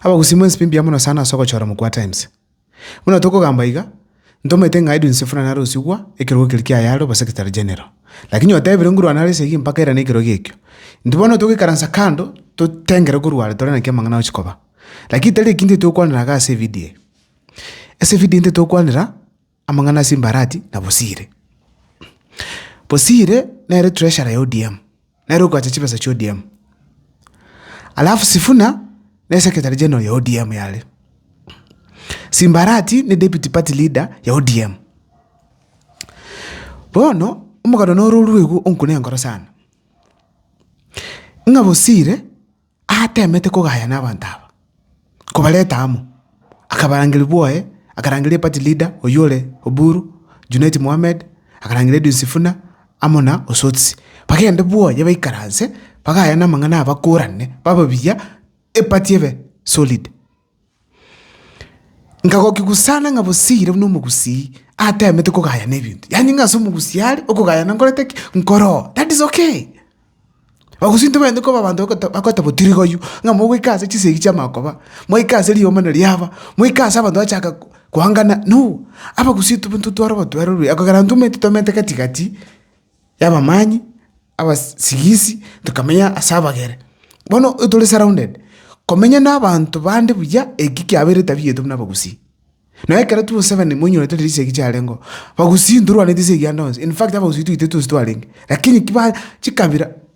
Abagusii mwensi pi mbuya mono sana ase ogochora mokwato ense. Buna tokogamba iga, ntomanyete ng'a Edwin Sifuna nare osigwa ekerogo keria kiaye are oba Secretary General. Lakini otebire nguru anare esegi mpaka erane ekerogo ekio. Intwe bono togoikaransa kando totengere nguru are tore naki amang'ana agochia koba. Lakini tari eki intwe togokwanera iga ase evidio eye. Ase evidio intwe togokwanera Amang'ana ase Mbarati na Bosire. Bosire nere treasurer ya ODM, nere okoacha chibesa chia ODM. Alafu Sifuna ne secretary general ya ODM yare. Simbarati ne deputy party leader ya ODM. Bono omogano noro orue igo onkuna enkoro sana. Ng'a Bosire Atemete kogaya nabanto aba, kobareta amo, akabarangeria bwoye, akarangeria eparty leader oyio ore Oburu, Junet Mohammed, akarangeria Edwin Sifuna amo na Osotsi, bagende bwoye baikaranse bagayane amang'ana aya bakorane babe buya eparty ebe solid. Nkagokigusana ng'a bosiire buna omogusii ateemete kogayana ebinto. Yaani ng'a ase omogusii are, okogayana nkorete ki? Nkoroo. That is okay. Abagusii ntibaeneeti koba abanto bagote bagote botirigoyio, ng'a mogoika ase chisegi chi'amagoba, moika ase riomana na riaba, moika ase abanto bachaka ko koangana, no! Abagusii tobwe ntotware obotwere oborobwo, ekogera intwe omanyete tomentwe gati gati. y'abamanyi, abasigisi, tokamenya ase abagere. Bono tore surrounded, komenya nabaanto bande buya, eki kiabeire etabia yaito buna abagusii. Nabo ekero twosabana moinyore tore chisegi chiarengo, bagusii ntorwaneti ase egianda onsi, in fact abagusii twaito tosi twarenge, lakini ki ba chikabira.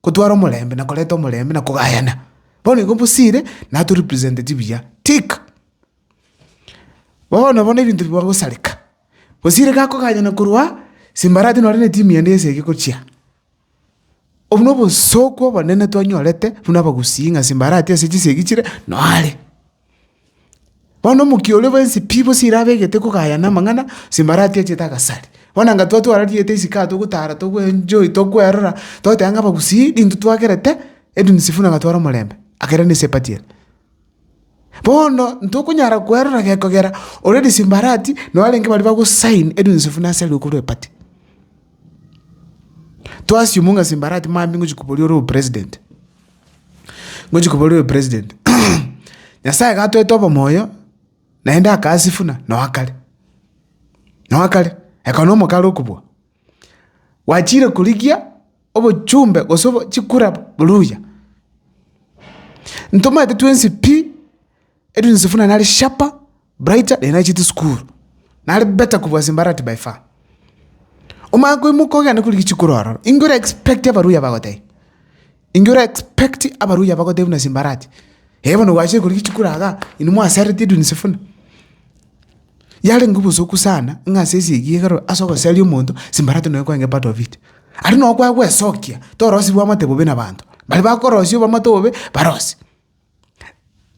Kotwara omorembe na koreta omorembe na kogayana. Bono igo bosire naturipresenteti buya. Tick. Bono bono ebinto bigwa gosareka. Bosire ga koganyana korwa Simbarati nore ne team yane esegi gochia. Obwo nobosooku obonene twanyorete buna abagusii ng'a Simbarati ase chisegi chire noare. Bono omokia oria bwensi pi bosi ere abegete kogaya na amang'ana, ase mbarati achete agasari. Bono anga twa twarariete esika togotara togoenjoy tokwerora, togoteba ng'a abagusii rinto twagerete, Edwin Sifuna gatware omorembe, akere na esepati ere. Bono ntokonyara kwerora gekogera ore ase mbarati nabo arenge baria bago sign Edwin Sifuna asare okorwa epati. Twa assume ng'a ase mbarati mambia ngochia koboria ore obopresident. ngochia koboria oyo president, Nyasaye gatoete obomoyo naende akasifuna noa kare, noa kare, eka na omokare okobua. Gwachire korigia obochumbe gose chikura buru buya. Ntomanyete twensi pi. Edwin Sifuna nare sharper, brighter naende nachete sukuru. Nare better kobua Simbarati by far. Omanye koimoka ogende korigia chikoro aroro, inki ora expect abaruya bagotebie? Inki ora expect abaruya bagotebie buna Simbarati? Eeh bono gwachire korigia chikoro igaa, inwe mwasereti Edwin Sifuna. Yarenge obosuku sana ng'a ase esegi igoro ase ogoseria omonto, Simbarati nonya kwenge part of it. Aria noo kwagwesokia, torosi bwamate bobe nabaanto. Baria bakorosia obamate obobe, barosi.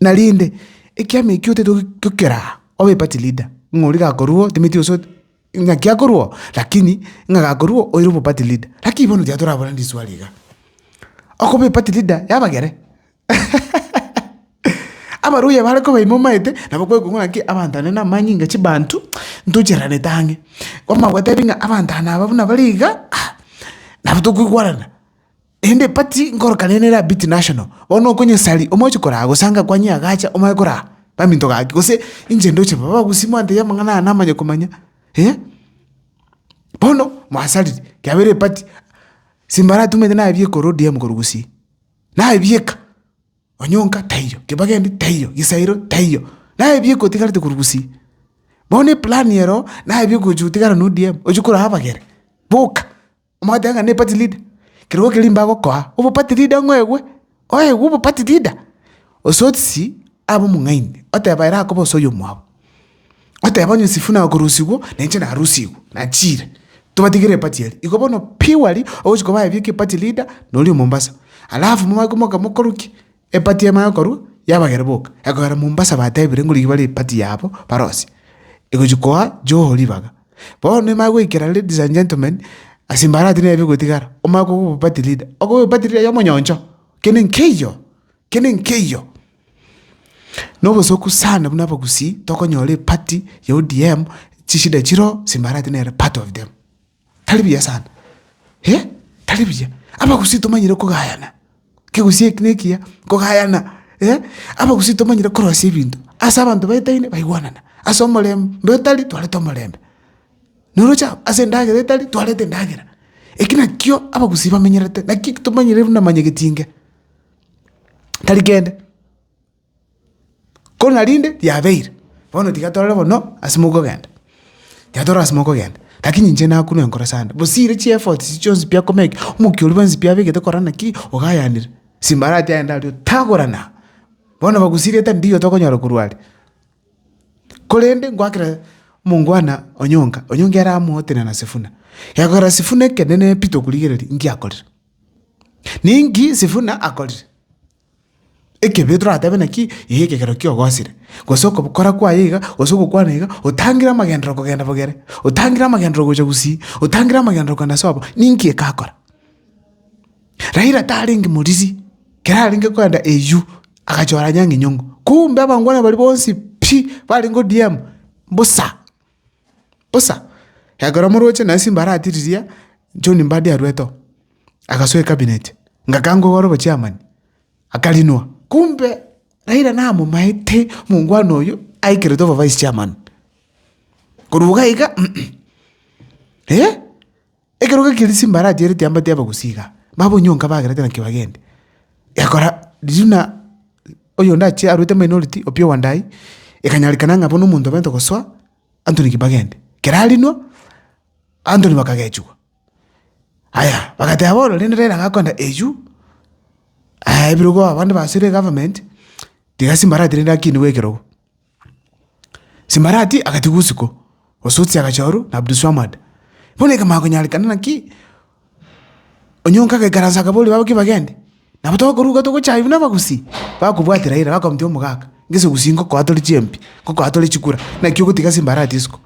Na rende, ekiama ekio totaete gokera aa, obe party leader, ng'a oria gakorua otenetie gose ot- ng'aki akorua oo, lakini ng'a gakorua oo oire obe party leader. Lakini bono tiga toraborane riswali igaa, okoba eparty leader ya abagere? Abaluya bare koba ime omaete, nabo kwekwa ng'a naki abanto ande na amanyinga chibanto, ntochereranete ang'e. Kwamanya gotebia ng'a abanto aba nabo buna bare igaa, ah, nabo tokoigwarana. Naende epati nkorokane ne Rabiti National, bono okonyesari omoche koraa gose anga kwa Nyiagacha omanye koraa baminto gaki gose inche ndoche baba gusii mwantebia amang'ana aya namanye komanya eh. Bono mwasariri kiabeire epati simbara atumete nabieka ore ODM korwa gusii, nabieka Onyonka taiyo, Kibageni taiyo, Gisairo taiyo, nabieka otigarete korwa gusii. Bono eplan ero nabieka ogochi gotigara na ODM, ochi koraa abagere boka Omanyete ng'a nepati lida, kerogo keria mbagokoa obopati lida ng'a oegwe, oegwe obopati lida. Ososi abe omong'aini, oteba ere akobe ose oyomwabo, oteba onye Sifuna akorusigwa, nainche narusigwe, nachire, tobatigere epati eria. Igo bono purely ogochia koba aye bieka epati lida, noria o Mombasa. Alafu mobakomoka mokorukia, Epati y'Eema y'Okorua yabagere boka, ekogera Mombasa batebire ng'o rigia bare epati yabo barosie, egochia koa Joho ribaga. Bono Eema egoikera ladies and gentlemen ase mbarati nebe egotigara, omanye koba oboepati leader, okoba oboepati leader y'omonyoncho, kende nkeiyo, kende nkeiyo. Na obosoku sana buna abagusii tokonyora epati ya ODM chishida chiroo ase mbarati nere part of them. Tari buya sana, eh, tari buya. Abagusii tomanyire kogayana, kegusii eki nekiya, kogayana, eh, abagusii tomanyire korosia ebinto. Ase abanto baetaine baigwanana, ase omorembe bwetari twarete omorembe, noroche ase endagera etari twarete endagera. Eki nakio abagusii bamenyerete, nakio tomanyire buna manyegetinge, tari kende. Korende narinde riabeire, bono tiga torore bono ase mokogenda, tiga torore ase mokogenda, rakini inche nakunwa enkoro ase ande, bosi ere chiefots echi chionsi pi akomeki, omokia oria bwensi pi abegete korora naki ogayanire, simbarati aye ndari otagorana, bono bagusiri etebi ndiyo tokonyora korwa are. Korende ngoakera omongwana onyonga, onyonga ere amootena na sifuna, gekogera sifuna ekenene pi tokorigereria, nki akorire? Ninki sifuna akorire? Ekebeyo toratebe naki? Ee ekegera kiogosire, gose okobokora kwaye iga, gose ogokwana iga, otangire amagenderero kogenda bogere, otangire amagenderero gocha gusii, otangire amagenderero kogenda sobo, ninki ekakora? Raila tarenge moriri, kera arenge kogenda eywo, agachora Anyang' Enyong'o, kumbe abangwana baria bonsi pi, barenge ODM, mbosa. Bosa, ekero moroche naye simba aratiriria, John Mbadi arwete oo, agasoa ecabinet, ngakangwa igoro obochairman, akarinwa. Kumbe Raila namomaete omongwana oyio aikeretwe obovicechairman. Korwa iga iga, eeh. Ekero gakiria chimbarachi ere tiambati abagusi iga, babonyonka bagerete naki bagende. Egakora riria buna oyonde achiire arwete minority Opiyo Wandayi, ekanyarekana ng'a bono omonto obente gosoa, Anthony Kibagende. Kera arinwa, Anthony bakagechigwa. Aya, bagateba bono rende Raila gakoenda eywo, ebirogo abande basoire egovernment, tiga chimbarachi rende akinigwe ekerogo. Simbarati agatigwa usiku, Osotsi agachorwa, na Abdulswamad. Bono ekemango konyarekana naki, Onyonka agaikaransa akaboria babake bagende. Nabo tokoruga togochaywa buna abagusii, bakobwati Raila, bakamotia omogaka, ng'ise gusii ngokoa tore chiempi, ngokoa tore chikura, naki ogotiga Simbarati isiko.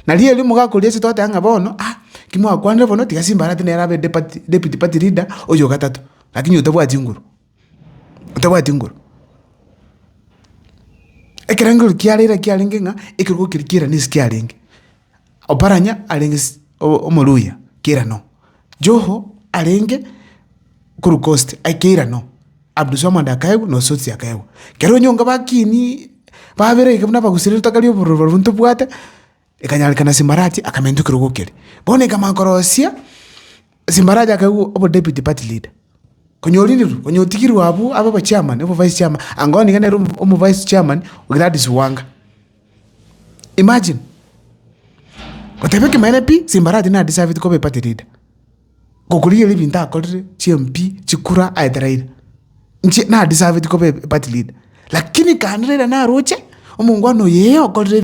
Na riria omogaka oria asetwe agoteba ng'a bono ah, ki mwakwanire bono, tiga Simbarati nere abe deputy party leader oyo ogatato, lakini otabwati nguru. otabwati nguru. Ekero enguru kiarenge kiarenge ng'a ekerogo keria ki'irane ase kiarenge. Oparanya arenge ase omoluhya k'irano, Joho arenge korwa coast aye k'irano, Abdulswamad akaegwa na Osotsi akaegwa. Kero onyonga bakiini babere iga buna abaguseriete tokari obororo barobwo ntobwate. ekanyarekana Simbarati akamenta ekerogo ekeria. Bono ekamanya korosia Simbarati akaigwa obo deputy party leader. Konya oririrwe, konya otigirwe abwo abe obo chairman, obo vice chairman, anga oo niga nere omo omo vice chairman o Gladys Wanga. Imagine, goteba ekemanyerepi Simbarati nadeserveti koba eparty leader. gokorigereria ebinto akorire, chimpwi, chikura, aete Raila. Inche na deserved koba e party leader, lakini kande Raila naroche, omongwana oyo ee okorire.